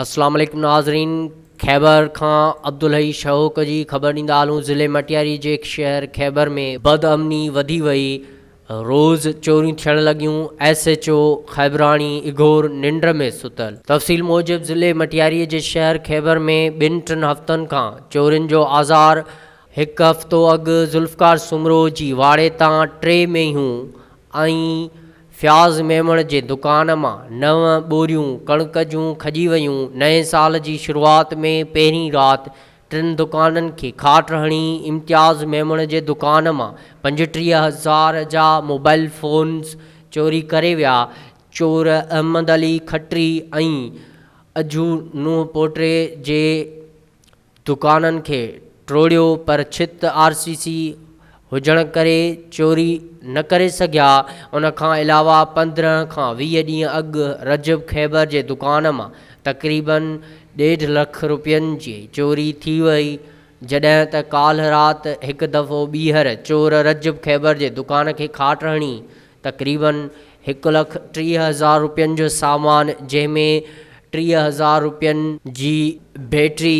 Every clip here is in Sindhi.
اسلام عليڪم ناظرين خيبر کان عبدالحي شهوڪ جي خبر ڏيندا هلون ضلع مٽياري جي شهر خيبر ۾ بد امني وڌي وئي روز چوريون ٿيڻ لڳيون ايس ايچ او خيبراڻي اگهور ننڊ ۾ ستل تفصيل موجب ضلع مٽياري جي شهر خيبر ۾ ٻن ٽن هفتن کان چورين جو آزار هڪ هفتو اڳ ذوالفقار سومرو جي واڙي تان ٽي مينهون ۽ فياض ميمڻ جي دڪان مان نو ٻوريون ڪڻڪ جون کڄي ويون، نئين سال جي شروعات ۾ پهرين رات ٽن دڪانن کي کاٽ هڻي امتياز ميمڻ جي دڪان مان پنجٽيهه هزار جا موبائيل فونز چوري ڪري ويا، چور احمد علي کٽري ۽ اجهو نوح پوٽري جي دڪانن کي ٽوڙيو پر ڇت آر سي سي هجڻ ڪري چوري نه ڪري سگهيا، ان کان علاوه پندرهن کان ويهه ڏينهن اڳ رجب خيبر جي دڪان مان تقريبن ڏيڍ لک روپين جي چوري ٿي وئي، جڏهن ته ڪالهه رات هڪ دفعو ٻيهر چور رجب خيبر جي دڪان کي کاٽ هڻي تقريباً هڪ لک ٽيهه هزار رپين جو سامان جنهن ۾ ٽيهه هزار رپين جي بيٽري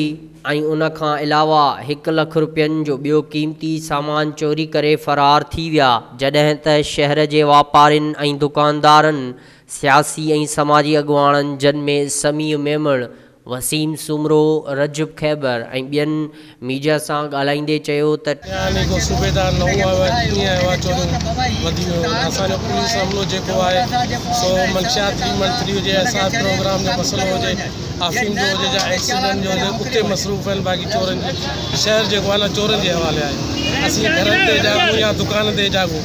۽ ان کان علاوه هڪ لک رپين جو ٻيو قيمتي سامان چوري ڪري فرار ٿي ويا جڏهن ته شهر جي واپارين ۽ دڪاندارن سياسي ۽ سماجي اڳواڻن جن ۾ سميع ميمڻ وسيم سومرو، رجب خيبر ۽ ٻين ميڊيا سان ڳالهائيندي چيو ته. اها نيڪو صوبيدار نه هئا اها ڪيئن اها چوريون وڌي ويون آهن اسان جو پوليس عملو جيڪو آهي سو منشيات ٿري ون ٿري هجي احساس پروگرام جو مسئلو هجي آفرين جو هجي جا ايڪسيڊنٽ جو هجي اتي مصروف آهن باقي چورن جي شهر جيڪو آهي نه چورن جي حوالي آهي اسين گهرن تي جاڳون يا دڪان تي جاڳون.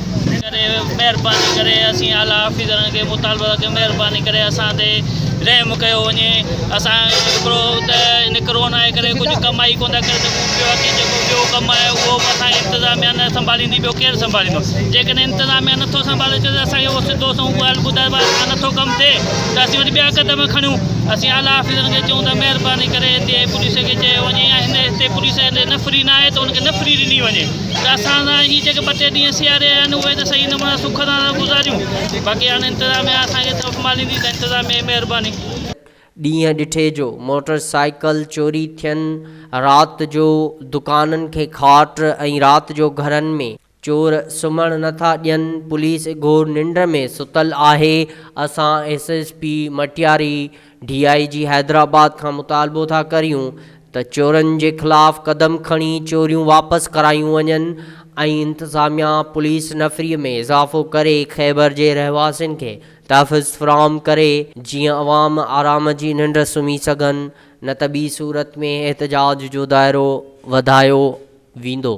ڪري مهرباني ڪري اسين اعليٰ آفيسرن کي مطالبو ٿا ڪيون مهرباني ڪري اسان تي رحم ڪيو وڃي اسان هڪڙو ته ان ڪرونا جي ڪري ڪجهه ڪمائي ڪونه ٿا ڪري سگهون پيو اڳي جيڪو ٻيو ڪم آهي اهو به اسان انتظاميا نه سنڀاليندي ٻيو ڪير سنڀاليندو جيڪڏهن انتظاميا نٿو سنڀالي اچي ته اسانکي اهو سڌو سنئون ڳالهه ٻڌايو آهي اسان نٿو ڪم ٿئي ته اسين وري ٻيا قدم کڻيون اسين اعليٰ آفيسرن کي چئون ٿا مهرباني ڪري هتي پوليس کي چيو وڃي يا هن هتي پوليس نفري نه آهي ته هن کي نفري ڏني وڃي ته اسان سان هي جيڪي ٻه ٽي ڏينهن سياري رهيا آهن اهي ته صحيح نمونا سک سان ٿا گذاريون باقي هاڻي انتظاميا اسان کي سنڀاليندي ته انتظاميا جي مهرباني. ڏينهن ڏٺي جو موٽر سائيڪل چوري ٿين، رات جو دڪانن کي کاٽ ۽ رات جو گهرن ۾. چور سمهڻ نه ٿا ڏين، پوليس اگهور ننڊ ۾ ستل آهي، اسان S S P Matiari D I G Hyderabad کان مطالبو ٿا ڪريون ته چورن جي خلاف قدم کڻي چوريون واپس ڪرايون وڃن ۽ انتظاميا پوليس نفري ۾ اضافو ڪري خيبر جي رهواسين کي تحفظ فراهم ڪري جيئن عوام آرام جي ننڊ سمهي سگهن نه ته ٻي صورت ۾ احتجاج جو دائرو وڌايو ويندو.